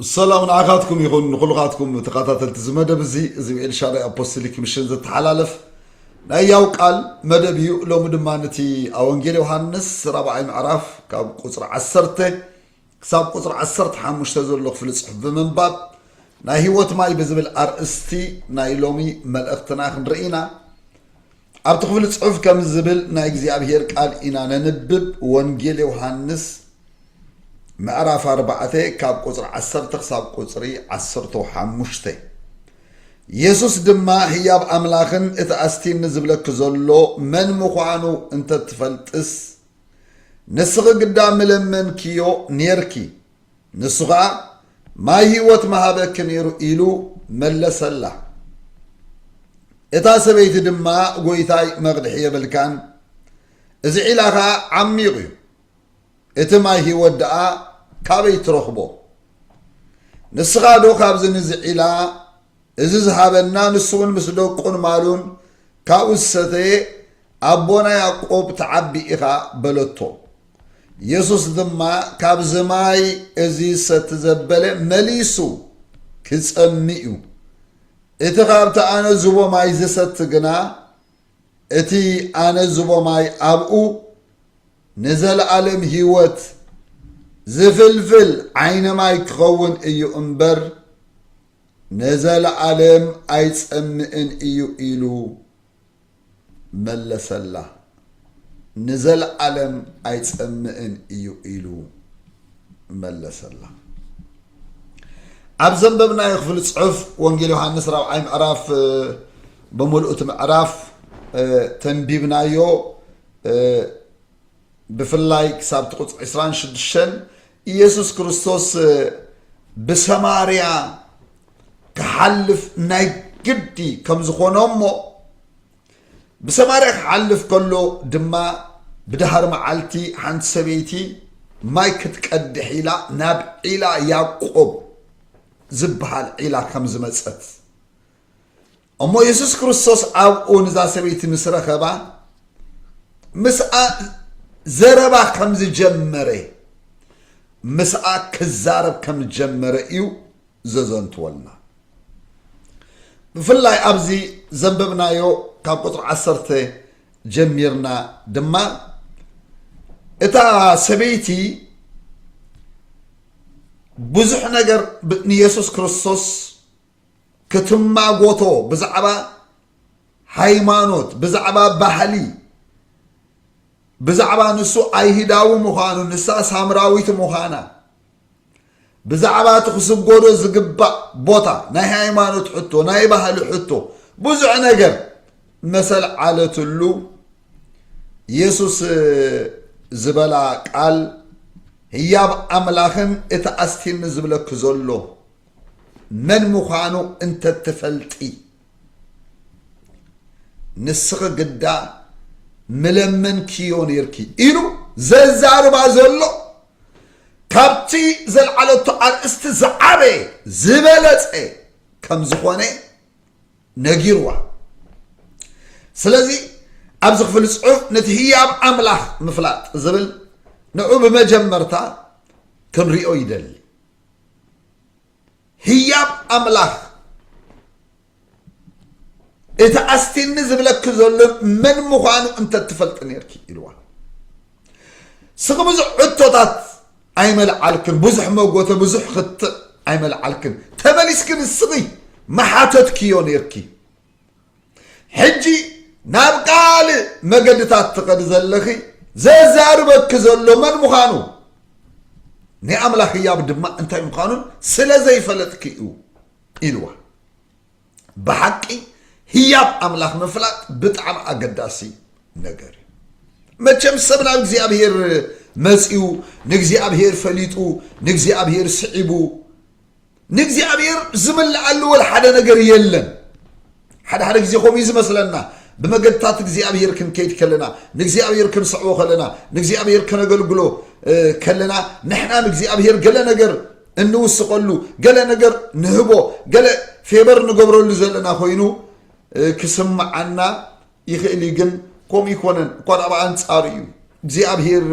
ሰላም ንዓኻትኩም ይኹን ንኹልኻትኩም ተኸታተልቲ እዚ መደብ እዚ እዚ ብኤልሻዳይ ኣፖስቶሊክ ምሽን ዘተሓላለፍ ናይ ያው ቃል መደብ እዩ ሎሚ ድማ ነቲ ኣብ ወንጌል ዮሃንስ ራብዓይ ምዕራፍ ካብ ቁፅሪ ዓሰርተ ክሳብ ቁፅሪ ዓሰርተ ሓሙሽተ ዘሎ ክፍሊ ፅሑፍ ብምንባብ ናይ ህይወት ማይ ብዝብል ኣርእስቲ ናይ ሎሚ መልእኽትና ክንርኢ ኢና ኣብቲ ክፍሊ ጽሑፍ ከምዚ ዝብል ናይ እግዚኣብሔር ቃል ኢና ነንብብ ወንጌል ዮሓንስ ምዕራፍ ኣርባዕተ ካብ ቁጽሪ ዓሰርተ ክሳብ ቁጽሪ ዓሰርተ ሓሙሽተ የሱስ ድማ ህያብ ኣምላኽን እቲ ኣስቲኒ ዝብለኪ ዘሎ መን ምዃኑ እንተትፈልጥስ ንስኺ ግዳ ምለመንኪዮ ኔርኪ ንሱ ኸኣ ማይ ህይወት ምሃበኪ ነይሩ ኢሉ መለሰላ። እታ ሰበይቲ ድማ ጐይታይ መቕድሒ የብልካን፣ እዚ ዒላ ኸኣ ዓሚቕ እዩ፣ እቲ ማይ ህይወት ደኣ ካበይ ትረኽቦ? ንስኻዶ ካብዚ ንዚ ዒላ እዚ ዝሃበና ንሱውን ምስ ደቁን ማሉን ካብኡ ዝሰተየ ኣቦና ያእቆብ ትዓቢ ኢኻ በለቶ። የሱስ ድማ ካብዚ ማይ እዚ ዝሰቲ ዘበለ መሊሱ ኪጸሚ እዩ። እቲ ካብቲ ኣነ ዝቦ ማይ ዝሰቲ ግና እቲ ኣነ ዝቦ ማይ ኣብኡ ንዘለኣለም ህይወት ዝፍልፍል ዓይኒ ማይ ኪኸውን እዩ እምበር ነዘለኣለም ኣይጸምእን እዩ ኢሉ መለሰላ። ንዘለኣለም ኣይጸምእን እዩ ኢሉ መለሰላ። ኣብ ዘንበብናዮ ክፍሊ ጽሑፍ ወንጌል ዮሃንስ ራብዓይ ምዕራፍ ብምልኡቲ ምዕራፍ ተንቢብናዮ ብፍላይ ክሳብ እቲ ቁፅሪ ዕስራን ሽዱሽተን ኢየሱስ ክርስቶስ ብሰማርያ ክሓልፍ ናይ ግዲ ከም ዝኾኖ እሞ ብሰማርያ ክሓልፍ ከሎ ድማ ብድሃር መዓልቲ ሓንቲ ሰበይቲ ማይ ክትቀድሕ ኢላ ናብ ዒላ ያቆብ ዝበሃል ዒላ ከም ዝመፀት እሞ የሱስ ክርስቶስ ኣብኡ ንዛ ሰበይቲ ምስ ረኸባ ምስኣ ዘረባ ከም ዝጀመረ ምስኣ ክዛረብ ከም ዝጀመረ እዩ ዘዘንትወልና ብፍላይ ኣብዚ ዘንበብናዮ ካብ ቁፅሪ ዓሰርተ ጀሚርና ድማ እታ ሰበይቲ ብዙሕ ነገር ንየሱስ ክርስቶስ ክትማጎቶ ብዛዕባ ሃይማኖት ብዛዕባ ባህሊ ብዛዕባ ንሱ ኣይህዳዊ ምዃኑ ንሳ ሳምራዊት ምዃና ብዛዕባ እቲ ክስጎዶ ዝግባእ ቦታ ናይ ሃይማኖት ሕቶ ናይ ባህሊ ሕቶ ብዙሕ ነገር መሰል ዓለትሉ የሱስ ዝበላ ቃል ህያብ ኣምላኽን እቲ ኣስቲኒ ዝብለኪ ዘሎ መን ምዃኑ እንተትፈልጢ ንስኺ ግዳ ምለመንክዮ ነይርኪ ኢሉ ዘዛርባ ዘሎ ካብቲ ዘልዓለቶ ኣርእስቲ ዝዓበየ ዝበለፀ ከም ዝኾነ ነጊርዋ ስለዚ ኣብዚ ክፍሊ ፅሑፍ ነቲ ህያብ ኣምላኽ ምፍላጥ ዝብል ንዑ ብመጀመርታ ክንሪኦ ይደሊ ህያብ ኣምላኽ እቲ ኣስቲኒ ዝብለኪ ዘሎ መን ምዃኑ እንተትፈልጢ ነርኪ ኢልዋ ስኺ ብዙሕ ሕቶታት ኣይመልዓልክን ብዙሕ መጎተ ብዙሕ ክትዕ ኣይመልዓልክን ተመሊስክን ስኺ መሓተትክዮ ነርኪ ሕጂ ናብ ካልእ መገድታት ትኸዲ ዘለኺ ዘዛርበኪ ዘሎ መን ምዃኑ ናይ ኣምላኽ ህያብ ድማ እንታይ ምዃኑን ስለ ዘይፈለጥኪ እዩ ኢልዋ ብሓቂ ህያብ ኣምላኽ ምፍላጥ ብጣዕሚ ኣገዳሲ ነገር እዩ መቸም ሰብ ናብ እግዚኣብሄር መፅኡ ንእግዚኣብሄር ፈሊጡ ንእግዚኣብሄር ስዒቡ ንእግዚኣብሔር ዝምልኣሉ ወል ሓደ ነገር የለን ሓደ ሓደ ግዜ ከምኡ ዝመስለና ብመገድታት እግዚኣብሔር ክንከይድ ከለና ንእግዚኣብሔር ክንስዕቦ ከለና ንእግዚኣብሔር ከነገልግሎ ከለና ንሕና ንእግዚኣብሔር ገለ ነገር እንውስቐሉ ገለ ነገር ንህቦ ገለ ፌበር ንገብረሉ ዘለና ኮይኑ ክስምዓና ይኽእል እዩ ግን ከምኡ ይኮነን እኳ ዳኣ ብኣንፃሩ እዩ እግዚኣብሄር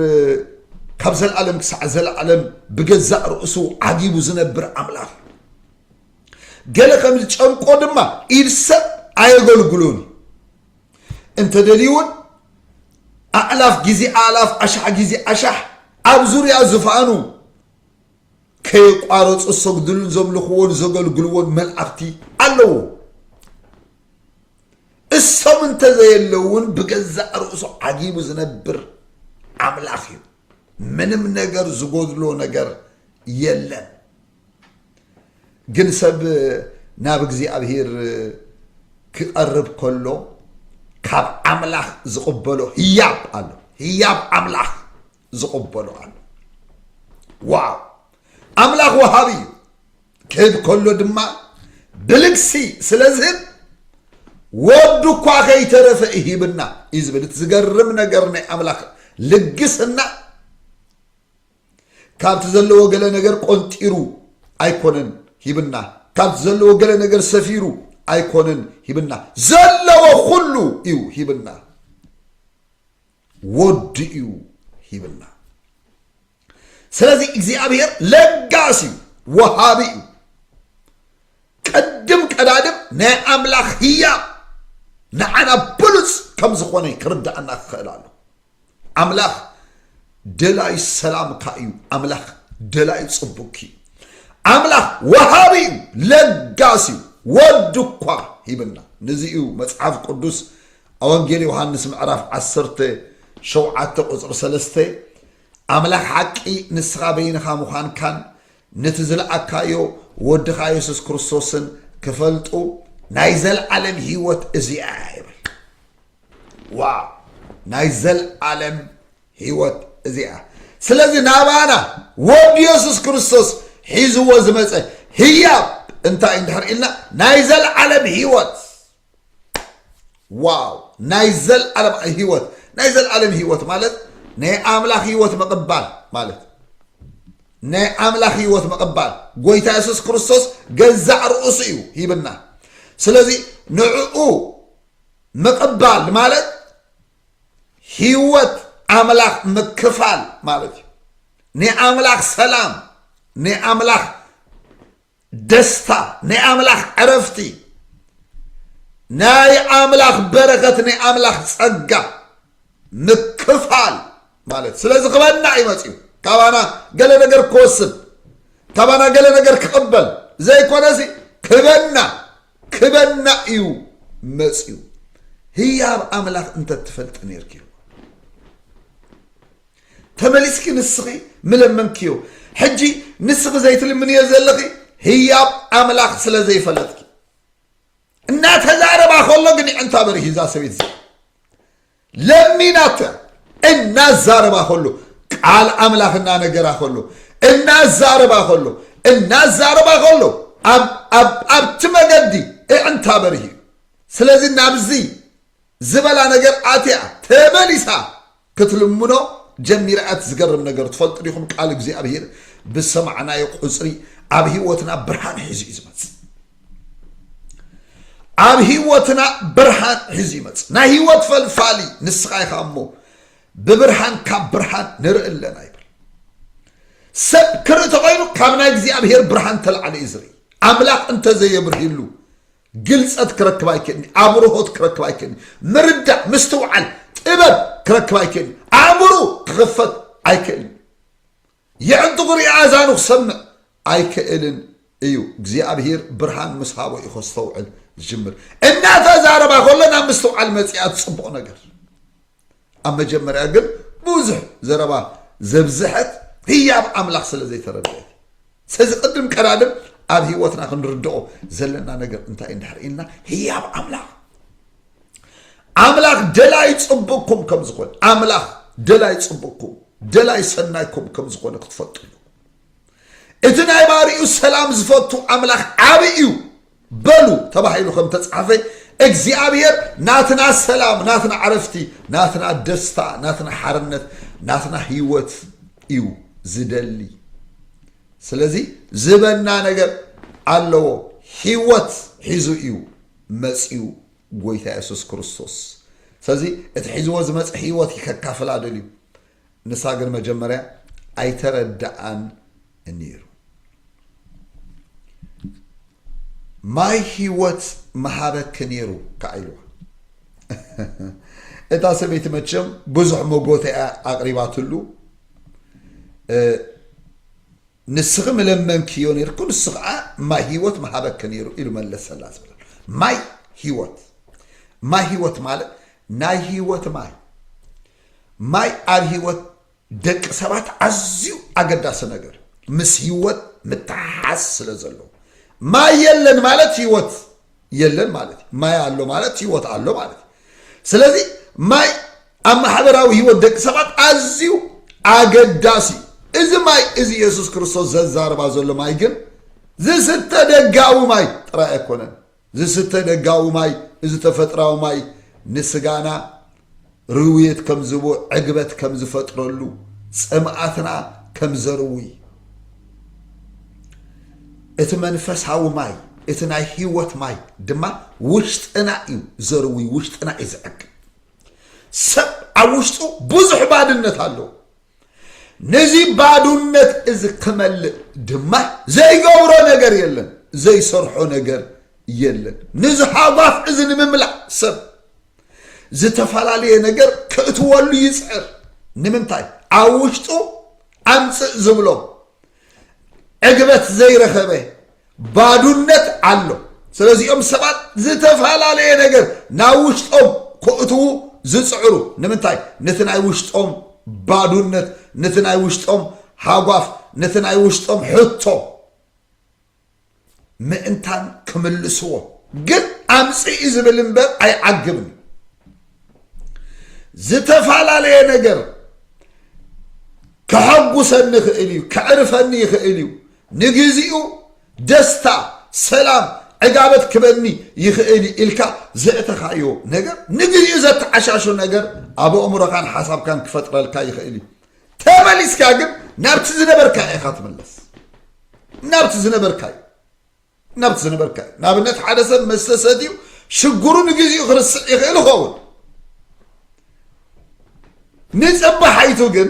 ካብ ዘለዓለም ክሳዕ ዘለዓለም ብገዛእ ርእሱ ዓጊቡ ዝነብር ኣምላኽ እዩ ገለ ከም ዝጨንቆ ድማ ኢድ ሰብ ኣየገልግሎን እዩ እንተደልዩ እውን ኣእላፍ ግዜ ኣእላፍ ኣሻሕ ግዜ ኣሻሕ ኣብ ዙርያ ዝፋኑ ከየቋረጹ ዝሰግድሉን ዘምልኽዎን ዘገልግልዎን መልኣኽቲ ኣለዎም። እሶም እንተዘየለው እውን ብገዛእ ርእሱ ዓጊቡ ዝነብር ኣምላኽ እዩ። ምንም ነገር ዝጎድሎ ነገር የለን። ግን ሰብ ናብ እግዚኣብሔር ክቐርብ ከሎ ካብ ኣምላኽ ዝቕበሎ ህያብ ኣሎ። ህያብ ኣምላኽ ዝቕበሎ ኣሎ ዋው ኣምላኽ ወሃቢ እዩ ክህብ ከሎ ድማ ብልግሲ ስለ ዝህብ ወዱ እኳ ከይተረፈ ይሂብና እዩ ዝብል እቲ ዝገርም ነገር ናይ ኣምላኽ ልግስና ካብቲ ዘለዎ ገለ ነገር ቆንጢሩ ኣይኮነን ሂብና ካብቲ ዘለዎ ገለ ነገር ሰፊሩ ኣይኮነን ሂብና ዘለዎ ኩሉ እዩ ሂብና ወዱ እዩ ሂብና ስለዚ እግዚኣብሔር ለጋስ እዩ ወሃቢ እዩ ቅድም ቀዳድም ናይ ኣምላኽ ህያብ ንዓና ብሉፅ ከም ዝኾነ ክርዳእና ክኽእል ኣሎ ኣምላኽ ደላዩ ሰላምካ እዩ ኣምላኽ ደላዩ ፅቡቅኪ እዩ ኣምላኽ ወሃቢ እዩ ለጋስ እዩ ወዱ እኳ ሂብና ንዚ እዩ መፅሓፍ ቅዱስ ኣብ ወንጌል ዮሃንስ ምዕራፍ ዓሰርተ ሸውዓተ ቁፅሪ ሰለስተ ኣምላኽ ሓቂ ንስኻ በይንኻ ምዃንካን ነቲ ዝለኣካዮ ወድኻ የሱስ ክርስቶስን ክፈልጡ ናይ ዘለዓለም ህይወት እዚኣ እያ ይብል ዋው ናይ ዘለዓለም ህይወት እዚኣ ስለዚ ናባና ወዲ የሱስ ክርስቶስ ሒዝዎ ዝመፀ ህያብ እንታይ እንድሕር ኢልና ናይ ዘለዓለም ህይወት ዋው ናይ ዘልዓለም ህይወት ናይ ዘልዓለም ህይወት ማለት ናይ ኣምላኽ ህይወት ምቕባል ማለት ናይ ኣምላኽ ህይወት ምቕባል ጎይታ የሱስ ክርስቶስ ገዛእ ርእሱ እዩ ሂብና ስለዚ ንዕኡ ምቕባል ማለት ህይወት ኣምላኽ ምክፋል ማለት እዩ ናይ ኣምላኽ ሰላም ናይ ኣምላኽ ደስታ ናይ ኣምላኽ ዕረፍቲ ናይ ኣምላኽ በረከት ናይ ኣምላኽ ጸጋ ምክፋል ማለት ስለዚ ክበና እዩ መፅኡ ካባና ገለ ነገር ክወስድ ካባና ገለ ነገር ክቕበል ዘይኮነሲ ክበና ክበና እዩ መፅኡ ህያብ ኣምላኽ እንተትፈልጥ ነርኪ ተመሊስኪ ንስኺ ምለመንክዮ ሕጂ ንስኺ ዘይትልምንዮ ዘለኺ ህያብ ኣምላኽ ስለ ዘይፈለጥኪ እናተዛረባ ከሎ ግን ይዕንታ በሪህ እዛ ሰበይት እዚኣ ለሚናተ እናዛረባ ከሎ ቃል ኣምላኽ እናነገራ ከሎ እናዛረባ ከሎ እናዛረባ ከሎ ኣብቲ መገዲ እዕንታ በርህ እዩ ስለዚ ናብዚ ዝበላ ነገር ኣትያ ተመሊሳ ክትልምኖ ጀሚራ ኣቲ ዝገርም ነገር ትፈልጡ ዲኹም ቃል እግዚኣብሄር ብሰማዕናዮ ቁጽሪ ኣብ ህይወትና ብርሃን ሒዙ እዩ ዝመጽእ ኣብ ህይወትና ብርሃን ሒዙ ይመጽእ ናይ ህይወት ፈልፋሊ ንስኻ ኢኻ እሞ ብብርሃን ካብ ብርሃን ንርኢ ኣለና ይብል ሰብ ክርኢ ተኮይኑ ካብ ናይ እግዚኣብሄር ብርሃን ተላዕለ እዩ ዝርኢ ኣምላኽ እንተዘየብርህሉ ግልጸት ክረክብ ኣይክእልኒ ኣብርሆት ክረክብ ኣይክእልኒ ምርዳእ ምስትውዓል ጥበብ ክረክብ ኣይክእልኒ ኣእምሩ ክኽፈት ኣይክእልን የዕንጥቑ ሪኣ ኣዛኑ ክሰምዕ ኣይክእልን እዩ እግዚኣብሄር ብርሃን ምስ ሃቦ እዩ ከስተውዕል ዝጅምር እናተዛረባ ከሎ ናብ ምስትውዓል መፅኣ እቲ ፅቡቕ ነገር ኣብ መጀመርያ ግን ብዙሕ ዘረባ ዘብዝሐት ህያብ ኣምላኽ ስለ ዘይተረድአት ስለዚ ቅድም ቀዳድም ኣብ ህይወትና ክንርድኦ ዘለና ነገር እንታይ እንድሕር ኢልና ህያብ ኣምላኽ ኣምላኽ ደላይ ፅቡቅኩም ከም ዝኾነ ኣምላኽ ደላይ ፅቡቅኩም ደላይ ሰናይኩም ከም ዝኾነ ክትፈልጡ እዩ እቲ ናይ ባሪኡ ሰላም ዝፈቱ ኣምላኽ ዓብ እዩ በሉ ተባሂሉ ከም እተጻሕፈ፣ እግዚኣብሄር ናትና ሰላም፣ ናትና ዕረፍቲ፣ ናትና ደስታ፣ ናትና ሓርነት፣ ናትና ህይወት እዩ ዝደሊ። ስለዚ ዝበና ነገር ኣለዎ። ህይወት ሒዙ እዩ መጺኡ ጎይታ የሱስ ክርስቶስ። ስለዚ እቲ ሒዝዎ ዝመጸ ህይወት ከካፍላ ደልዩ። ንሳ ግን መጀመርያ ኣይተረድኣን እኒሩ። ማይ ህይወት ምሃበኪ ነይሩ ከዓ ኢልዋ። እታ ሰበይቲ መቸም ብዙሕ መጎተ እያ ኣቕሪባትሉ። ንስኺ ምለመንክዮ ነርኩ ንሱ ከዓ ማይ ህይወት ምሃበኪ ነይሩ ኢሉ መለሰላ ዝብላ ማይ ህይወት ማይ ህይወት ማለት ናይ ህይወት ማይ ማይ ኣብ ህይወት ደቂ ሰባት ኣዝዩ ኣገዳሲ ነገር ምስ ህይወት ምትሓሓዝ ስለ ዘለዎ ማይ የለን ማለት ህይወት የለን ማለት እዩ። ማይ ኣሎ ማለት ህይወት ኣሎ ማለት እዩ። ስለዚ ማይ ኣብ ማሕበራዊ ህይወት ደቂ ሰባት ኣዝዩ ኣገዳሲ እዩ። እዚ ማይ እዚ የሱስ ክርስቶስ ዘዛርባ ዘሎ ማይ ግን ዝስተ ደጋዊ ማይ ጥራይ ኣይኮነን። ዝስተ ደጋዊ ማይ እዚ ተፈጥራዊ ማይ ንስጋና ርውየት ከም ዝህቦ ዕግበት ከም ዝፈጥረሉ ጽምኣትና ከም ዘርውይ እቲ መንፈሳዊ ማይ እቲ ናይ ህይወት ማይ ድማ ውሽጥና እዩ ዘርውይ ውሽጥና እዩ ዝዕግብ ሰብ ኣብ ውሽጡ ብዙሕ ባድነት ኣለዎ ነዚ ባዱነት እዚ ክመልእ ድማ ዘይገብሮ ነገር የለን፣ ዘይሰርሖ ነገር የለን። ነዚ ሃጓፍ እዚ ንምምላእ ሰብ ዝተፈላለየ ነገር ክእትወሉ ይፅዕር። ንምንታይ ኣብ ውሽጡ ኣምፅእ ዝብሎ ዕግበት ዘይረኸበ ባዱነት ኣሎ ስለዚኦም ሰባት ዝተፈላለየ ነገር ናብ ውሽጦም ኮእትዉ ዝፅዕሩ ንምንታይ ነቲ ናይ ውሽጦም ባዱነት ነቲ ናይ ውሽጦም ሃጓፍ ነቲ ናይ ውሽጦም ሕቶ ምእንታን ክምልስዎ ግን ኣምፅኢ ዝብል እምበር ኣይዓግብን ዝተፈላለየ ነገር ከሐጉሰኒ ይኽእል እዩ ከዕርፈኒ ይኽእል እዩ ንግዚኡ ደስታ፣ ሰላም፣ ዕጋበት ክበኒ ይኽእል እዩ ኢልካ ዘእተኻዮ ነገር ንግዚኡ ዘተዓሻሹ ነገር ኣብ ኣእምሮኻን ሓሳብካን ክፈጥረልካ ይኽእል እዩ። ተመሊስካ ግን ናብቲ ዝነበርካዮ ኢኻ ትምለስ። ናብቲ ዝነበርካዮ ናብቲ ዝነበርካዮ ንኣብነት ሓደ ሰብ መስተ ሰትዩ ሽግሩ ንግዚኡ ክርስዕ ይኽእል ይኸውን ንፅባሓይቱ ግን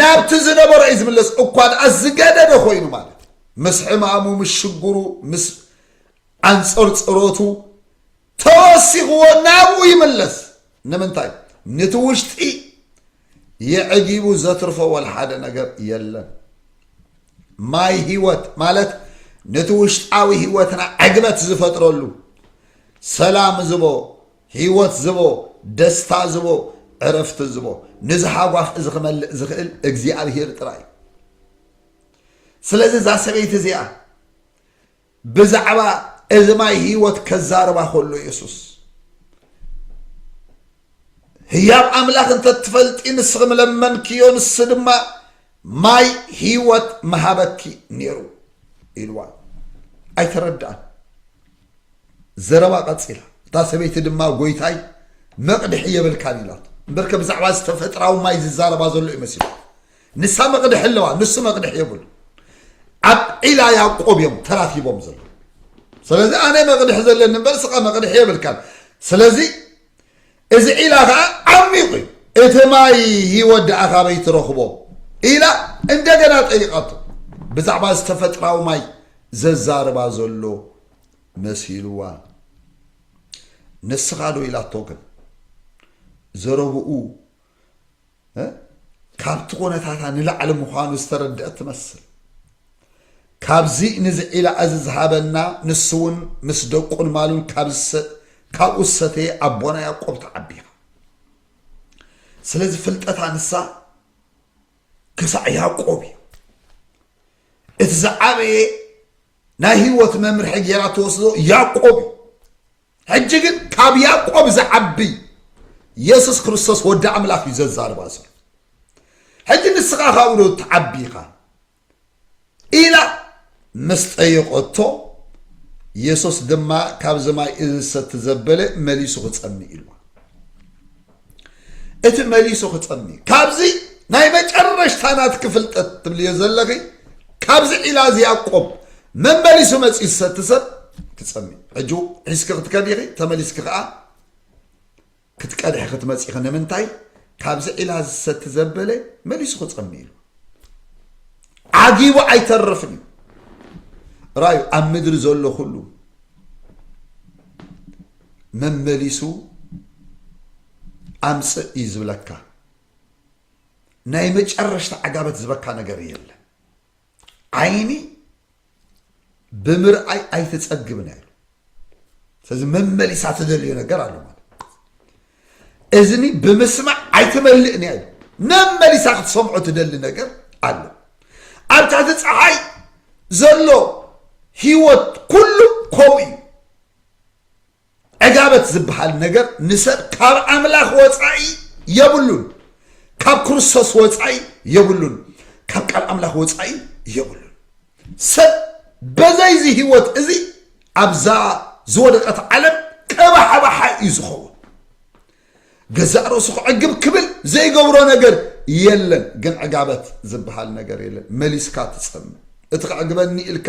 ናብቲ ዝነበሮ እዩ ዝምለስ እኳ ደኣ ዝገደደ ኮይኑ ማለት ምስ ሕማሙ ምስ ሽግሩ ምስ ኣንፀርፅሮቱ ተወሲኽዎ ናብኡ ይምለስ ንምንታይ ንቲ ውሽጢ የዕጊቡ ዘትርፎ ወልሓደ ነገር የለን ማይ ህይወት ማለት ንቲ ውሽጣዊ ህይወትና ዕግበት ዝፈጥረሉ ሰላም ዝቦ ህይወት ዝቦ ደስታ ዝቦ ዕረፍቲ ዝቦ ንዝሃጓፍ እዚ ክመልእ ዝኽእል እግዚኣብሄር ጥራይ እዩ ስለዚ እዛ ሰበይቲ እዚኣ ብዛዕባ እዚ ማይ ህይወት ከዛርባ ከሎ የሱስ ህያብ ኣምላኽ እንተ ትፈልጢ ንስኺ ምለመንክዮ ንሱ ድማ ማይ ህይወት መሃበኪ ነይሩ ኢልዋ ኣይተረድኣን ዘረባ ቀፂላ እታ ሰበይቲ ድማ ጎይታይ መቕድሒ የብልካን ኢላቶ እምበርከ ብዛዕባ ዝተፈጥራዊ ማይ ዝዛረባ ዘሎ እዩ መሲሉ ንሳ መቕድሒ ኣለዋ ንሱ መቕድሒ የብሉ ኣብ ዒላ ያቆብ እዮም ተራኪቦም ዘለዉ ስለዚ ኣነ መቕድሒ ዘለኒ እምበር ስኻ መቕድሒ የብልካን ስለዚ እዚ ዒላ ከዓ ዓሚቑ እዩ እቲ ማይ ህይወት ደኣ ካበይ ትረኽቦ ኢላ እንደገና ጠይቃቶ ብዛዕባ ዝተፈጥራዊ ማይ ዘዛርባ ዘሎ መሲልዋ ንስኻ ዶ ኢላቶ ግን ዘረብኡ ካብቲ ኩነታታ ንላዕሊ ምዃኑ ዝተረድአት ትመስል ካብዚ ንዝዒላ እዚ ዝሃበና ንሱ እውን ምስ ደቁን ማሉን ካብኡ ዝሰተየ ኣቦና ያቆብ ተዓቢኻ ስለዚ ፍልጠታ ንሳ ክሳዕ ያቆብ እዩ እቲ ዝዓበየ ናይ ህይወት መምርሒ ገይራ ተወስዶ ያቆብ እዩ ሕጂ ግን ካብ ያዕቆብ ዝዓቢ የሱስ ክርስቶስ ወዲ ኣምላኽ እዩ ዘዛርባ ዘሎ ሕጂ ንስኻ ካብኡ ዶ ትዓቢ ኢኻ ኢላ ምስ ጠየቐቶ የሱስ ድማ ካብዚ ማይ እዚ ዝሰቲ ዘበለ መሊሱ ክጸምእ ኢልዋ እቲ መሊሱ ክጸም እዩ ካብዚ ናይ መጨረሽታ ናትኪ ፍልጠት ትብልዮ ዘለኺ ካብዚ ዒላ እዚ ያቆብ መመሊሱ መፅኡ ዝሰቲ ሰብ ክጸም እዩ ሕጂ ሒዝኪ ክትከዲ ኢኺ ተመሊስኪ ከዓ ክትቀድሒ ክትመፂ ኢኺ ንምንታይ ካብዚ ዒላ ዝሰቲ ዘበለ መሊሱ ክጸም ኢሉ ዓጊቡ ኣይተርፍን እዩ ራዩ ኣብ ምድሪ ዘሎ ኩሉ መመሊሱ ኣምፅእ እዩ ዝብለካ ናይ መጨረሽታ ዓጋበት ዝበካ ነገር የለ ዓይኒ ብምርኣይ ኣይትፀግብ ነይሩ ስለዚ መመሊሳ ትደልዮ ነገር ኣሎ ማለት እዝኒ ብምስማዕ ኣይትመልእ ነይሩ መመሊሳ ክትሰምዖ ትደሊ ነገር ኣሎ ኣብ ትሕቲ ፀሓይ ዘሎ ህይወት ኩሉ ከምኡ እዩ ዕጋበት ዝበሃል ነገር ንሰብ ካብ ኣምላኽ ወጻኢ የብሉን፣ ካብ ክርስቶስ ወጻኢ የብሉን፣ ካብ ቃል ኣምላኽ ወጻኢ የብሉን። ሰብ በዘይዚ ህይወት እዚ ኣብዛ ዝወደቀት ዓለም ቀባሓባሓ እዩ ዝኸውን። ገዛእ ርእሱ ክዕግብ ክብል ዘይገብሮ ነገር የለን፣ ግን ዕጋበት ዝበሃል ነገር የለን። መሊስካ ትጸምእ እቲ ክዕግበኒ ኢልካ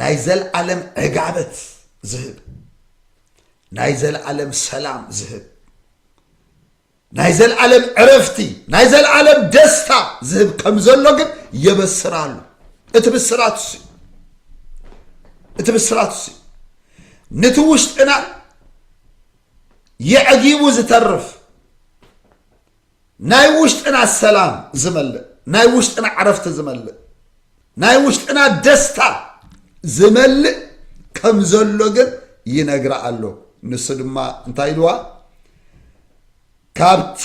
ናይ ዘለዓለም ዕጋበት ዝህብ ናይ ዘለዓለም ሰላም ዝህብ ናይ ዘለዓለም ዕረፍቲ ናይ ዘለዓለም ደስታ ዝህብ ከም ዘሎ ግን የበስር ኣሎ እቲ ብስራት እሱ እቲ ብስራት እሱ ነቲ ውሽጥና የዕጊቡ ዝተርፍ ናይ ውሽጥና ሰላም ዝመልእ፣ ናይ ውሽጥና ዕረፍቲ ዝመልእ፣ ናይ ውሽጥና ደስታ ዝመልእ ከም ዘሎ ግን ይነግራ ኣሎ። ንሱ ድማ እንታይ ኢልዋ? ካብቲ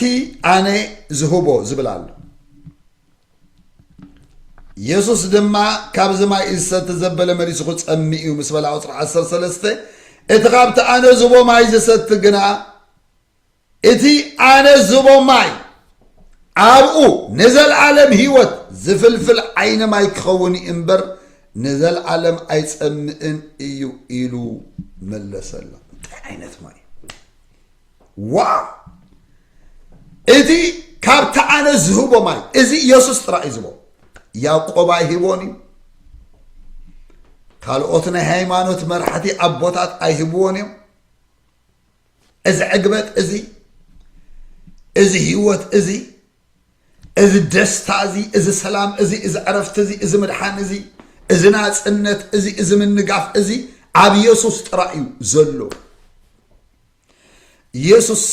ኣነ ዝህቦ ዝብል ኣሎ። የሱስ ድማ ካብዚ ማይ ዝሰቲ ዘበለ መሊሱ ክጸሚ እዩ ምስ በላ ቁፅሪ 13 እቲ ካብቲ ኣነ ዝቦ ማይ ዝሰቲ ግና እቲ ኣነ ዝህቦ ማይ ኣብኡ ንዘልኣለም ህይወት ዝፍልፍል ዓይኒ ማይ ክኸውን እዩ እምበር ንዘልኣለም ኣይጸምእን እዩ ኢሉ መለሰላ። እንታይ ዓይነት ማይ ዋው! እቲ ካብቲ ኣነ ዝህቦ ማይ እዚ ኢየሱስ ጥራይ እዩ ዝቦ ያዕቆብ ኣይህቦን እዩ ካልኦት ናይ ሃይማኖት መራሕቲ ኣቦታት ኣይህብዎን እዮም እዚ ዕግበት እዚ እዚ ህይወት እዚ እዚ ደስታ እዚ እዚ ሰላም እዚ እዚ ዕረፍቲ እዚ እዚ ምድሓን እዚ እዚ ናፅነት እዚ እዚ ምንጋፍ እዚ ኣብ የሱስ ጥራይ እዩ ዘሎ የሱስ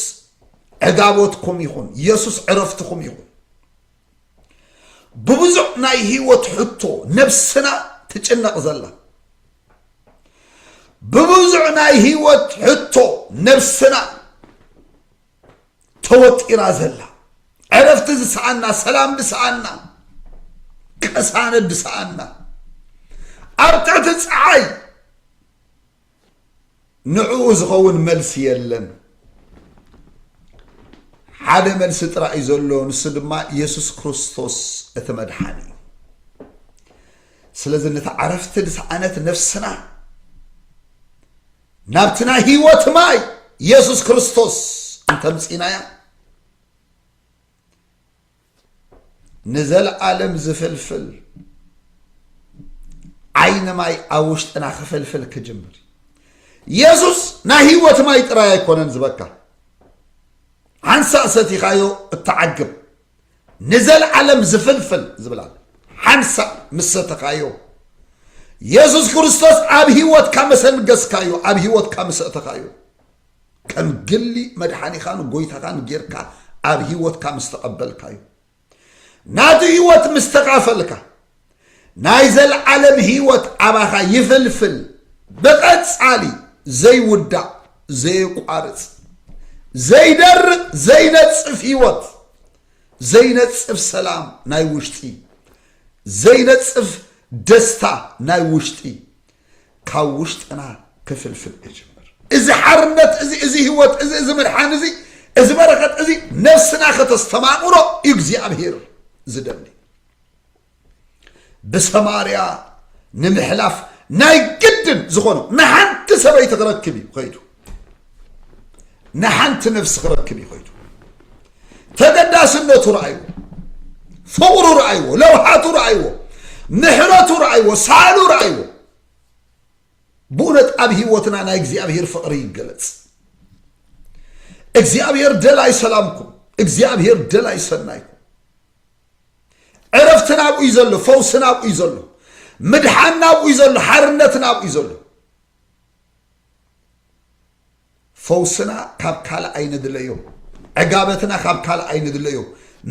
ዕጋቦትኩም ይኹን የሱስ ዕረፍትኹም ይኹን ብብዙሕ ናይ ህይወት ሕቶ ነብስና ትጭነቕ ዘላ ብብዙሕ ናይ ህይወት ሕቶ ነብስና ተወጢራ ዘላ ዕረፍቲ ዝሰኣና ሰላም ዝሰኣና ቅሳነት ዝሰኣና ኣብ ትሕቲ ፀዓይ ንዕኡ ዝኸውን መልሲ የለን። ሓደ መልሲ ጥራይ እዩ ዘሎ፣ ንሱ ድማ የሱስ ክርስቶስ እቲ መድሓኒ እዩ። ስለዚ ነቲ ዓረፍቲ ዝሰኣነት ነፍስና ናብቲ ናይ ህይወት ማይ የሱስ ክርስቶስ እንተምፂናያ ንዘልኣለም ዝፍልፍል ዓይኒ ማይ ኣብ ውሽጥና ክፍልፍል ክጅምር የሱስ ናይ ህይወት ማይ ጥራይ ኣይኮነን ዝበካ ሓንሳእ ሰቲኻዮ እትዓግብ ንዘልዓለም ዝፍልፍል ዝብላል ሓንሳእ ምስ ሰተኻዮ የሱስ ክርስቶስ ኣብ ህይወትካ መሰንገስካዮ ኣብ ህይወትካ ምስ እተኻዮ ከም ግሊ መድሓኒኻን ጎይታኻን ጌርካ ኣብ ህይወትካ ምስ ተቐበልካዮ፣ ናቱ ህይወት ምስ ተኻፈልካ፣ ናይ ዘልዓለም ህይወት ኣባኻ ይፍልፍል፣ ብቐጻሊ ዘይውዳእ ዘየቋርጽ ዘይደርቕ ዘይነጽፍ ህይወት፣ ዘይነጽፍ ሰላም ናይ ውሽጢ፣ ዘይነጽፍ ደስታ ናይ ውሽጢ፣ ካብ ውሽጥና ክፍልፍል እጅምር። እዚ ሓርነት እዚ እዚ ህይወት እዚ እዚ ምድሓን እዚ እዚ በረኸት እዚ ነፍስና ከተስተማቕሮ እዩ እግዚኣብሄር ዝደሊ። ብሰማርያ ንምሕላፍ ናይ ግድን ዝኾኖ ንሓንቲ ሰበይቲ ክረክብ እዩ ከይዱ። ንሓንቲ ነፍሲ ክረክብ እዩ ከይዱ ተገዳስነቱ ረኣይዎ ፍቕሩ ረኣይዎ ለውሃቱ ረኣይዎ ምሕረቱ ረኣይዎ ሳሉ ረኣይዎ ብእውነት ኣብ ህይወትና ናይ እግዚኣብሔር ፍቕሪ ይገለጽ እግዚኣብሔር ደላይ ሰላምኩም እግዚኣብሔር ደላይ ሰናይኩም ዕረፍቲ ናብኡ እዩ ዘሎ ፈውሲ ናብኡ እዩ ዘሎ ምድሓን ናብኡ እዩ ዘሎ ሓርነት ናብኡ እዩ ዘሎ ፈውስና ካብ ካልእ ኣይንድለዮ፣ ዕጋበትና ካብ ካልእ ኣይንድለዮ፣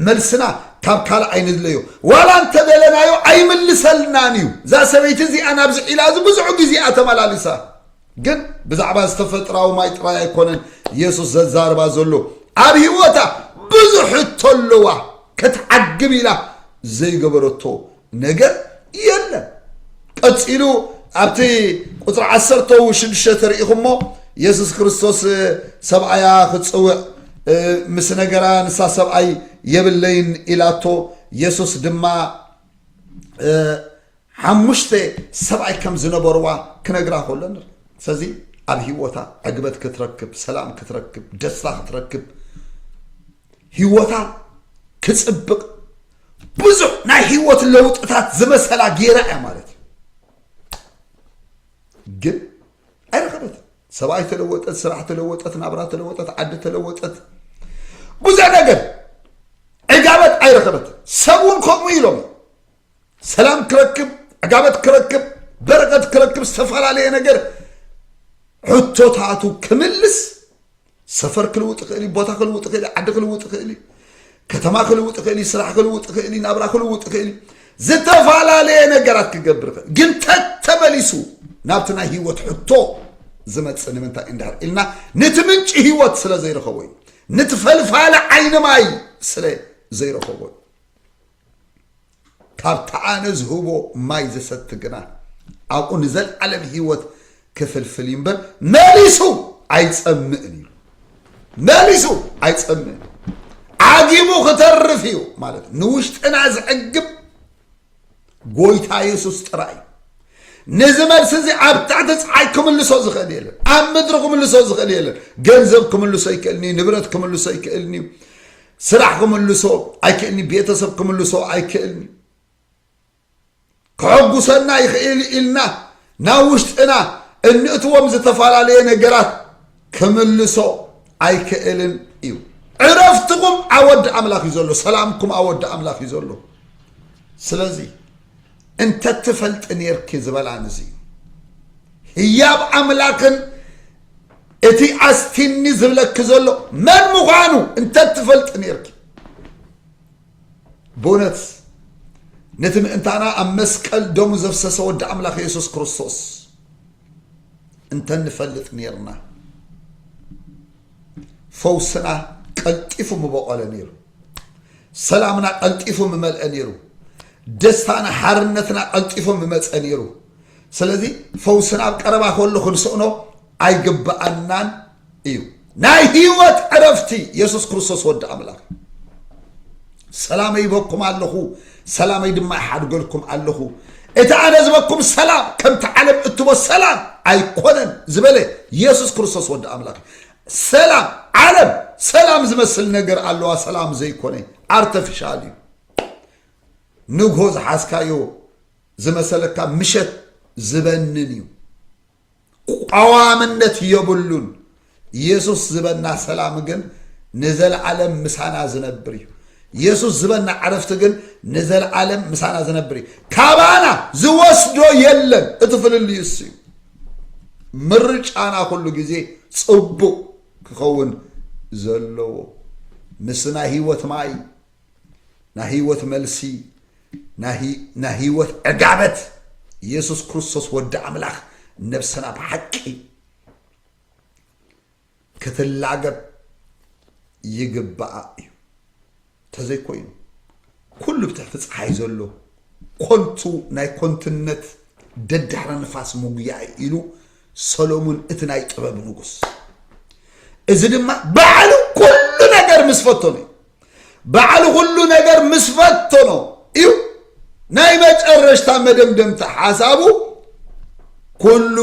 መልስና ካብ ካልእ ኣይንድለዮ፣ ዋላ እንተደለናዮ ኣይምልሰልናን እዩ። እዛ ሰበይቲ እዚኣ ናብዚ ዒላ እዚ ብዙሕ ግዜ እያ ተመላሊሳ። ግን ብዛዕባ ዝተፈጥራዊ ማይ ጥራይ ኣይኮነን የሱስ ዘዛርባ ዘሎ ኣብ ህይወታ ብዙሕ እተለዋ ክትዓግብ ኢላ ዘይገበረቶ ነገር የለን። ቀጺሉ ኣብቲ ቁፅሪ ዓሰርተው ሽዱሽተ ተርኢኹሞ የሱስ ክርስቶስ ሰብኣያ ክፅውዕ ምስ ነገራ ንሳ ሰብኣይ የብለይን ኢላቶ የሱስ ድማ ሓሙሽተ ሰብኣይ ከም ዝነበርዋ ክነግራ ከሎ ንርኢ ስለዚ ኣብ ሂወታ ዕግበት ክትረክብ ሰላም ክትረክብ ደስታ ክትረክብ ሂወታ ክፅብቕ ብዙሕ ናይ ህይወት ለውጥታት ዝመሰላ ጌራ እያ ማለት እዩ ግን ኣይረኸበትን ሰብኣይ ተለወጠት ስራሕ ተለወጠት ናብራ ተለወጠት ዓዲ ተለወጠት ብዙሕ ነገር ዕጋበት ኣይረኸበት ሰብ እውን ከምኡ ኢሎም ሰላም ክረክብ ዕጋበት ክረክብ በረከት ክረክብ ዝተፈላለየ ነገር ሕቶታቱ ክምልስ ሰፈር ክልውጥ ይኽእል እዩ፣ ቦታ ክልውጥ ይኽእል እዩ፣ ዓዲ ክልውጥ ይኽእል እዩ፣ ከተማ ክልውጥ ይኽእል እዩ፣ ስራሕ ክልውጥ ይኽእል እዩ፣ ናብራ ክልውጥ ይኽእል እዩ፣ ዝተፈላለየ ነገራት ክገብር ይኽእል ግን ተተመሊሱ ናብቲ ናይ ህይወት ሕቶ ዝመፅእ ንምንታይ እንድሕር ኢልና ነቲ ምንጪ ህይወት ስለ ዘይረኸቦ እዩ ነቲ ፈልፋሊ ዓይኒ ማይ ስለ ዘይረኸቦ እዩ ካብቲ ኣነ ዝህቦ ማይ ዝሰቲ ግና፣ ኣብኡ ንዘለዓለም ህይወት ክፍልፍል እዩ እምበር፣ መሊሱ ኣይጸምእን ኢሉ። መሊሱ ኣይጸምእን፣ ዓጊቡ ክተርፍ እዩ ማለት እዩ። ንውሽጥና ዝዕግብ ጎይታ የሱስ ጥራይ እዩ። ነዚ መልሲ እዚ ኣብ ትሕቲ ፀሓይ ክምልሶ ዝኽእል የለን። ኣብ ምድሪ ክምልሶ ዝኽእል የለን። ገንዘብ ክምልሶ ኣይክእልን እዩ። ንብረት ክምልሶ ኣይክእልን እዩ። ስራሕ ክምልሶ ኣይክእልኒ ቤተሰብ ክምልሶ ኣይክእልኒ ከሐጉሰና ይኽእል ኢልና ናብ ውሽጥና እንእትዎም ዝተፈላለየ ነገራት ክምልሶ ኣይክእልን እዩ ዕረፍትኩም ኣወዲ ኣምላኽ እዩ ዘሎ ሰላምኩም ኣወዲ ኣምላኽ እዩ ዘሎ ስለዚ እንተትፈልጢ ኔርኪ ዝበላ ንዚ እዩ ህያብ ኣምላኽን እቲ ኣስቲኒ ዝብለኪ ዘሎ መን ምዃኑ እንተትፈልጢ ኔርኪ ብእውነት ነቲ ምእንታና ኣብ መስቀል ደሙ ዘፍሰሰ ወዲ ኣምላኽ የሱስ ክርስቶስ እንተንፈልጥ ኔርና ፈውስና ቀልጢፉ ምበቆለ ነይሩ ሰላምና ቀልጢፉ ምመልአ ነይሩ ደስታና ሓርነትና ቀልጢፉ ምመፀ ነይሩ ስለዚ ፈውስና ኣብ ቀረባ ከሎ ክንስእኖ ኣይግብኣናን እዩ ናይ ህይወት ዕረፍቲ የሱስ ክርስቶስ ወዲ ኣምላኽ ሰላመይ ይበኩም ኣለኹ ሰላመይ ድማ ይሓድገልኩም ኣለኹ እቲ ኣነ ዝበኩም ሰላም ከምቲ ዓለም እትቦ ሰላም ኣይኮነን ዝበለ የሱስ ክርስቶስ ወዲ ኣምላኽ ሰላም ዓለም ሰላም ዝመስል ነገር ኣለዋ ሰላም ዘይኮነ ኣርተፊሻል እዩ ንግሆ ዝሓዝካዮ ዝመሰለካ ምሸት ዝበንን እዩ ቋዋምነት የብሉን ኢየሱስ ዝበና ሰላም ግን ንዘለዓለም ምሳና ዝነብር እዩ ኢየሱስ ዝበና ዕረፍቲ ግን ንዘለዓለም ምሳና ዝነብር እዩ ካባና ዝወስዶ የለን እቲ ፍልልዩ እሱ እዩ ምርጫና ኩሉ ግዜ ጽቡቕ ክኸውን ዘለዎ ምስ ናይ ህይወት ማይ ናይ ህይወት መልሲ ናይ ህይወት ዕጋበት ኢየሱስ ክርስቶስ ወዲ ኣምላኽ ነብስና ብሓቂ ክትላገብ ይግባኣ እዩ። ተዘይኮይኑ ኩሉ ብትሕቲ ፀሓይ ዘሎ ኮንቱ ናይ ኮንትነት ደድሕረ ንፋስ ምጉያይ ኢሉ ሰሎሙን እቲ ናይ ጥበብ ንጉስ እዚ ድማ ባዕሉ ኩሉ ነገር ምስ ፈተኑ እዩ ባዕሉ ኩሉ ነገር ምስ ፈተኖ እዩ ናይ መጨረሽታ መደምደምታ ሓሳቡ ኩሉ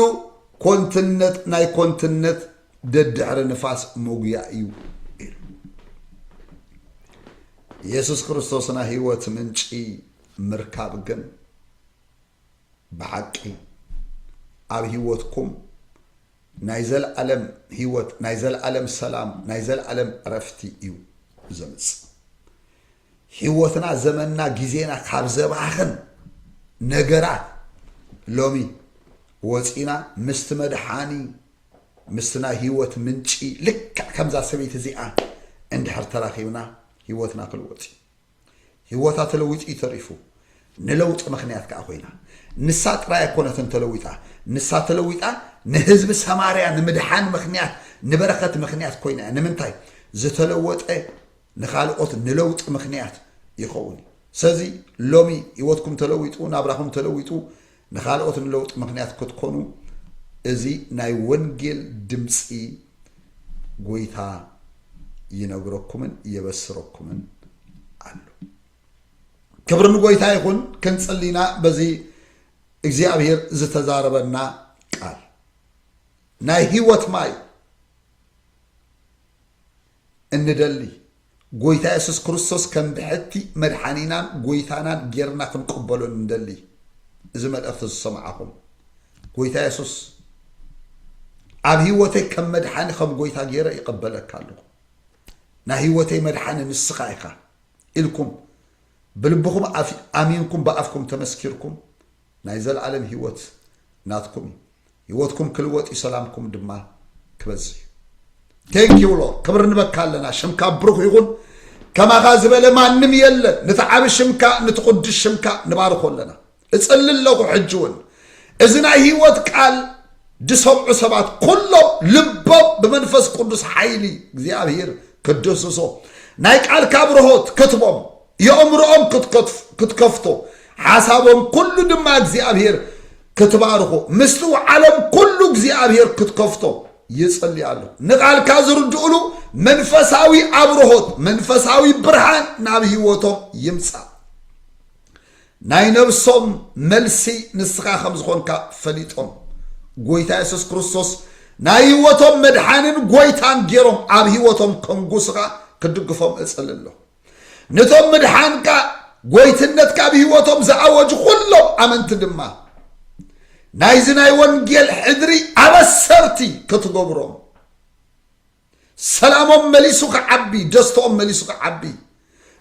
ኮንትነት ናይ ኮንትነት ደድሕሪ ንፋስ መጉያ እዩ ኢሉ። የሱስ ክርስቶስ ናይ ህይወት ምንጪ ምርካብ ግን ብሓቂ ኣብ ህይወትኩም ናይ ዘለዓለም ህይወት፣ ናይ ዘለዓለም ሰላም፣ ናይ ዘለዓለም ዕረፍቲ እዩ ዘምጽእ። ሂወትና ዘመንና ግዜና ካብ ዘባኽን ነገራት ሎሚ ወጺና ምስቲ መድሓኒ ምስቲ ናይ ሂወት ምንጪ ልክዕ ከምዛ ሰበይቲ እዚኣ እንድሕር ተራኺብና ሂወትና ክልወጥ እዩ ሂወታ ተለዊጡ እዩ ተሪፉ ንለውጢ ምኽንያት ከዓ ኮይና ንሳ ጥራይ ኣይኮነትን ተለዊጣ ንሳ ተለዊጣ ንህዝቢ ሰማርያ ንምድሓን ምኽንያት ንበረኸት ምኽንያት ኮይና እያ ንምንታይ ዝተለወጠ ንኻልኦት ንለውጢ ምኽንያት ይኸውን እዩ። ሰዚ ሎሚ ህይወትኩም ተለዊጡ ናብራኹም ተለዊጡ ንኻልኦት ንለውጢ ምኽንያት ክትኮኑ እዚ ናይ ወንጌል ድምጺ ጎይታ ይነግረኩምን የበስረኩምን ኣሎ። ክብሪ ንጎይታ ይኹን። ክንጽሊና በዚ እግዚኣብሔር ዝተዛረበና ቃል ናይ ህይወት ማይ እንደሊ ጎይታ የሱስ ክርስቶስ ከም ብሕቲ መድሓኒናን ጎይታናን ጌርና ክንቅበሎ እንደሊ እዚ መልእኽቲ ዝሰማዕኹም ጎይታ የሱስ ኣብ ህይወተይ ከም መድሓኒ ከም ጎይታ ጌረ ይቐበለካ ኣለኹ ናይ ህይወተይ መድሓኒ ንስኻ ኢኻ ኢልኩም ብልብኹም ኣሚንኩም ብኣፍኩም ተመስኪርኩም ናይ ዘልኣለም ሂወት ናትኩም እዩ ሂወትኩም ክልወጥ እዩ ሰላምኩም ድማ ክበዝሕ እዩ Thank you Lord ክብር ንበካ ኣለና ሽምካ ብሩኽ ይኹን ከማኻ ዝበለ ማንም የለን ንቲ ዓቢ ሽምካ ንቲ ቁዱስ ሽምካ ንባርኾ ኣለና እጽሊ ኣለኹ ሕጂ እውን እዚ ናይ ሂወት ቃል ዝሰምዑ ሰባት ኩሎም ልቦም ብመንፈስ ቅዱስ ሓይሊ እግዚኣብሄር ክድህስሶ ናይ ቃልካ ብርሆት ክትቦም የእምሮኦም ክትከፍቶ ሓሳቦም ኩሉ ድማ እግዚኣብሔር ክትባርኾ ምስትውዓሎም ኩሉ እግዚኣብሔር ክትከፍቶ ይጽሊ ኣሎ ንቓልካ ዝርድኡሉ መንፈሳዊ ኣብርሆት መንፈሳዊ ብርሃን ናብ ህይወቶም ይምጻእ ናይ ነብሶም መልሲ ንስኻ ከም ዝኾንካ ፈሊጦም ጎይታ የሱስ ክርስቶስ ናይ ህይወቶም መድሓንን ጎይታን ገይሮም ኣብ ህይወቶም ከንጉስኻ ክድግፎም እጽሊ ኣሎ ነቶም ምድሓንካ ጐይትነትካ ኣብ ህይወቶም ዝኣወጁ ዅሎም ኣመንቲ ድማ ናይዚ ናይ ወንጌል ሕድሪ ኣበሰርቲ ክትገብሮም ሰላሞም መሊሱ ክዓቢ ደስተኦም መሊሱ ክዓቢ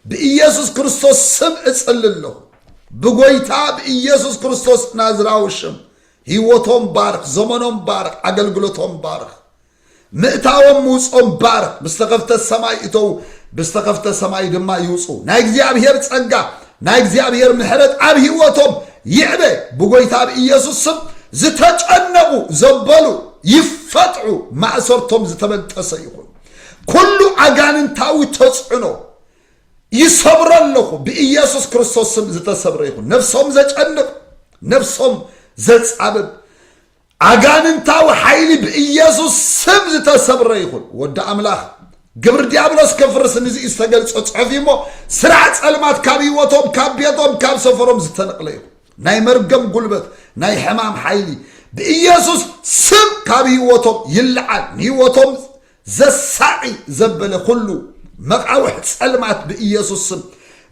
ብኢየሱስ ክርስቶስ ስም እጽል ኣለኹ ብጎይታ ብኢየሱስ ክርስቶስ ናዝራዊ ሽም ህይወቶም ባርኽ ዘመኖም ባርኽ ኣገልግሎቶም ባርኽ ምእታዎም ምውጽኦም ባርኽ፣ ብዝተኸፍተ ሰማይ እተዉ፣ ብዝተኸፍተ ሰማይ ድማ ይውጽኡ። ናይ እግዚኣብሄር ጸጋ፣ ናይ እግዚኣብሄር ምሕረት ኣብ ህይወቶም ይዕበ፣ ብጎይታ ብኢየሱስ ስም ዝተጨነቑ ዘበሉ ይፈትሑ፣ ማእሰርቶም ዝተበንጠሰ ይኹን። ኩሉ ኣጋንንታዊ ተጽዕኖ ይሰብሮ ኣለኹ፣ ብኢየሱስ ክርስቶስ ስም ዝተሰብረ ይኹን። ነፍሶም ዘጨንቕ፣ ነፍሶም ዘጻብብ፣ ኣጋንንታዊ ሓይሊ ብኢየሱስ ስም ዝተሰብረ ይኹን ወዲ ኣምላኽ ግብሪ ዲያብሎስ ከፍርስ ንዚ ዝተገልጸ ጽሑፍ እሞ ስራሕ ጸልማት ካብ ህይወቶም ካብ ቤቶም ካብ ሰፈሮም ዝተነቕለ ይኹን ናይ መርገም ጉልበት ናይ ሕማም ሓይሊ ብኢየሱስ ስም ካብ ህይወቶም ይለዓል ንህይወቶም ዘሳቒ ዘበለ ዅሉ መቓውሕ ጸልማት ብኢየሱስ ስም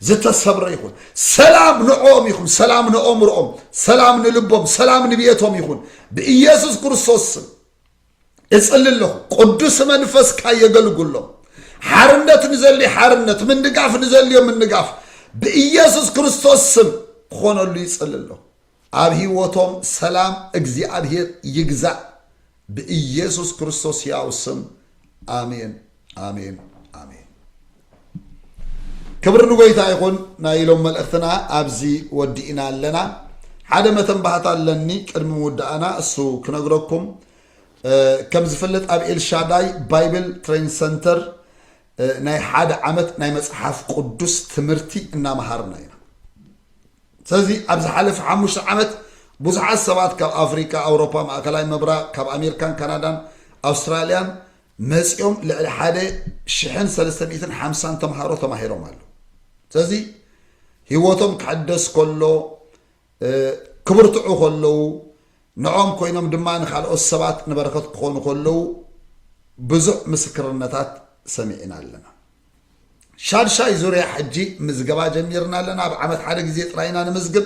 ዝተሰብረ ይኹን። ሰላም ንዕኦም ይኹን፣ ሰላም ንኣእምሮኦም፣ ሰላም ንልቦም፣ ሰላም ንቤቶም ይኹን። ብኢየሱስ ክርስቶስ ስም እጽሊ ኣለኹ። ቅዱስ መንፈስካ የገልግሎም። ሓርነት ንዘልዩ ሓርነት፣ ምንጋፍ ንዘልዮ ምንጋፍ ብኢየሱስ ክርስቶስ ስም ክኾነሉ ይጽሊ ኣለኹ። ኣብ ሂወቶም ሰላም እግዚኣብሄር ይግዛእ ብኢየሱስ ክርስቶስ ሕያው ስም ኣሜን ኣሜን ኣሜን። ክብሪ ንጎይታ ይኹን። ናይ ኢሎም መልእኽትና ኣብዚ ወዲእና ኣለና። ሓደ መተንባህታ ኣለኒ ቅድሚ ምውዳእና እሱ ክነግረኩም ከም ዝፍለጥ ኣብ ኤልሻዳይ ባይብል ትሬን ሰንተር ናይ ሓደ ዓመት ናይ መፅሓፍ ቅዱስ ትምህርቲ እናመሃርና ኢና። ሰዚ ኣብ ዝሓለፈ ሓሙሽተ ዓመት ብዙሓት ሰባት ካብ ኣፍሪቃ፣ ኣውሮፓ፣ ማእከላይ ምብራቕ፣ ካብ ኣሜርካን ካናዳን ኣውስትራልያን መጺኦም ልዕሊ ሓደ ሽሕን ሰለስተ ሚእትን ሓምሳን ተምሃሮ ተማሂሮም ኣለዉ። ሰዚ ህይወቶም ክሕደስ ከሎ ክብርትዑ ከለዉ ንኦም ኮይኖም ድማ ንካልኦት ሰባት ንበረከት ክኾኑ ከለዉ ብዙሕ ምስክርነታት ሰሚዕና ኣለና። ሻድሻይ ዙርያ ሕጂ ምዝገባ ጀሚርና ኣለና። ኣብ ዓመት ሓደ ግዜ ጥራይ ኢና ንምዝግብ።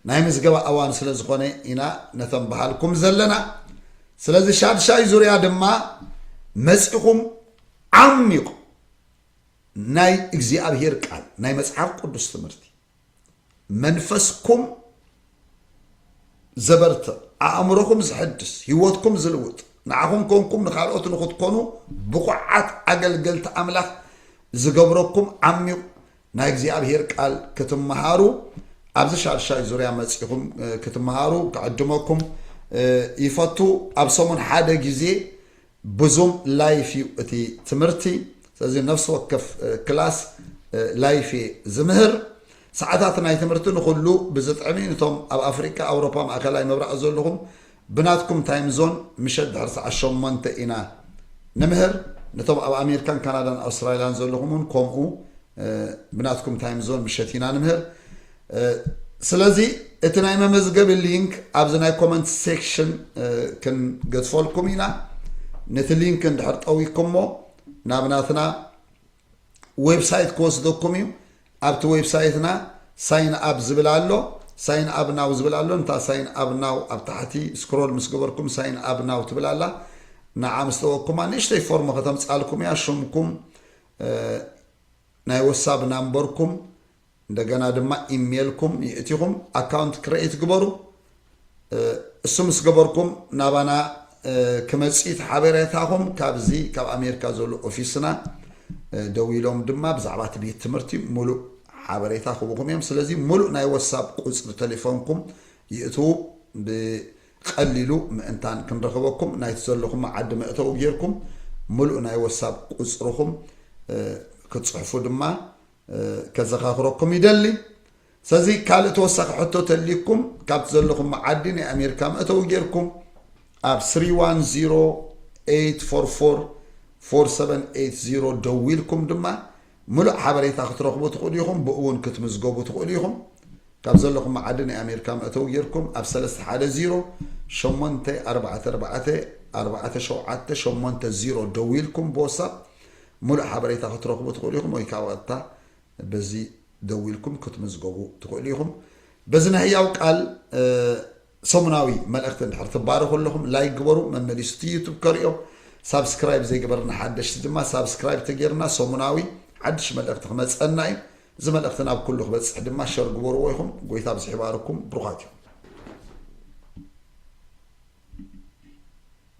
ናይ ምዝገባ እዋን ስለ ዝኾነ ኢና ነቶም በሃልኩም ዘለና። ስለዚ ሻድሻይ ዙርያ ድማ መጺኹም ዓሚቕ ናይ እግዚኣብሄር ቃል ናይ መጽሓፍ ቅዱስ ትምህርቲ መንፈስኩም ዘበርትዕ ኣእምሮኹም ዝሕድስ ህይወትኩም ዝልውጥ ንዓኹም ኮንኩም ንካልኦት ንክትኮኑ ብቑዓት ኣገልገልቲ ኣምላኽ ዝገብረኩም ዓሚቕ ናይ እግዚኣብሄር ቃል ክትመሃሩ ኣብዚ ሻድሻይ ዙርያ መፂኹም ክትመሃሩ ክዕድመኩም ይፈቱ ኣብ ሰሙን ሓደ ግዜ ብዙም ላይፍ እዩ እቲ ትምህርቲ ስለዚ ነፍሲ ወከፍ ክላስ ላይፍ እየ ዝምህር ሰዓታት ናይ ትምህርቲ ንኹሉ ብዝጥዕሚ ንቶም ኣብ ኣፍሪቃ ኣውሮፓ ማእከላይ ምብራቅ ዘልኹም ብናትኩም ታይም ዞን ምሸት ድሕሪ ሰዓት ሸሞንተ ኢና ንምህር ንቶም ኣብ ኣሜሪካን ካናዳን ኣውስትራልያን ዘልኹም ውን ከምኡ ብናትኩም ታይም ዞን ምሸት ኢና ንምህር ስለዚ እቲ ናይ መመዝገቢ ሊንክ ኣብዚ ናይ ኮመንት ሴክሽን ክንገዝፈልኩም ኢና ነቲ ሊንክ እንድሕር ጠዊኩሞ ናብ ናትና ዌብሳይት ክወስደኩም እዩ ኣብቲ ዌብሳይትና ሳይን ኣብ ዝብል ኣሎ ሳይን ኣብ ናው ዝብል ኣሎ እንታ ሳይን ኣብ ናው ኣብ ታሕቲ ስክሮል ምስ ገበርኩም ሳይን ኣብ ናው ትብል ኣላ ንዓ ምስ ተወኩማ ንእሽተይ ፎርም ከተምፃልኩም እያ ሽምኩም ናይ ወሳብ ናምበርኩም እንደገና ድማ ኢሜልኩም ይእቲኹም ኣካውንት ክረኤት ግበሩ እሱ ምስ ገበርኩም ናባና ክመፅት ሓበሬታኹም ካብዚ ካብ ኣሜሪካ ዘሎ ኦፊስና ደዊሎም ድማ ብዛዕባ እቲ ቤት ትምህርቲ ሙሉእ ሓበሬታ ክቡኹም እዮም ስለዚ ሙሉእ ናይ ወሳብ ቁፅሪ ቴሌፎንኩም ይእትዉ ብቀሊሉ ምእንታን ክንረኽበኩም ናይቲ ዘለኹም ዓዲ መእተዊ ጌርኩም ሙሉእ ናይ ወሳብ ቁፅርኹም ክትፅሕፉ ድማ ከዘኻኽረኩም ይደሊ። ስለዚ ካልእ ተወሳኺ ሕቶ ተልዩኩም ካብቲ ዘለኹም ዓዲ ናይ ኣሜሪካ መእተዊ ጌርኩም ኣብ 3108444780 ደዊልኩም ድማ ምሉእ ሓበሬታ ክትረኽቡ ትኽእሉ ኢኹም ብኡ እውን ክትምዝገቡ ትኽእሉ ኢኹም ካብ ዘለኹም ዓዲ ናይ ኣሜሪካ መእተዊ ጌርኩም ኣብ 31084447880 ደዊልኩም ብወሳብ ምሉእ ሓበሬታ ክትረኽቡ ትኽእሉ ኢኹም ወይ ከኣ ብቐጥታ በዚ ደዊልኩም ክትምዝገቡ ትኽእሉ ኢኹም። በዚ ናይ ህያው ቃል ሰሙናዊ መልእኽቲ እንድሕር ትባረኹ ኣለኹም ላይክ ግበሩ፣ መመሊሱ እቲ ዩቱብ ከርእዮ። ሳብስክራይብ ዘይገበርና ሓደሽቲ ድማ ሳብስክራይብ ተጌርና ሰሙናዊ ሓድሽ መልእኽቲ ክመጸና እዩ። እዚ መልእኽቲ ናብ ኩሉ ክበጽሕ ድማ ሸር ግበርዎ ኢኹም። ጎይታ ብዝሕ ይባርኩም፣ ብሩኻት ኢኹም።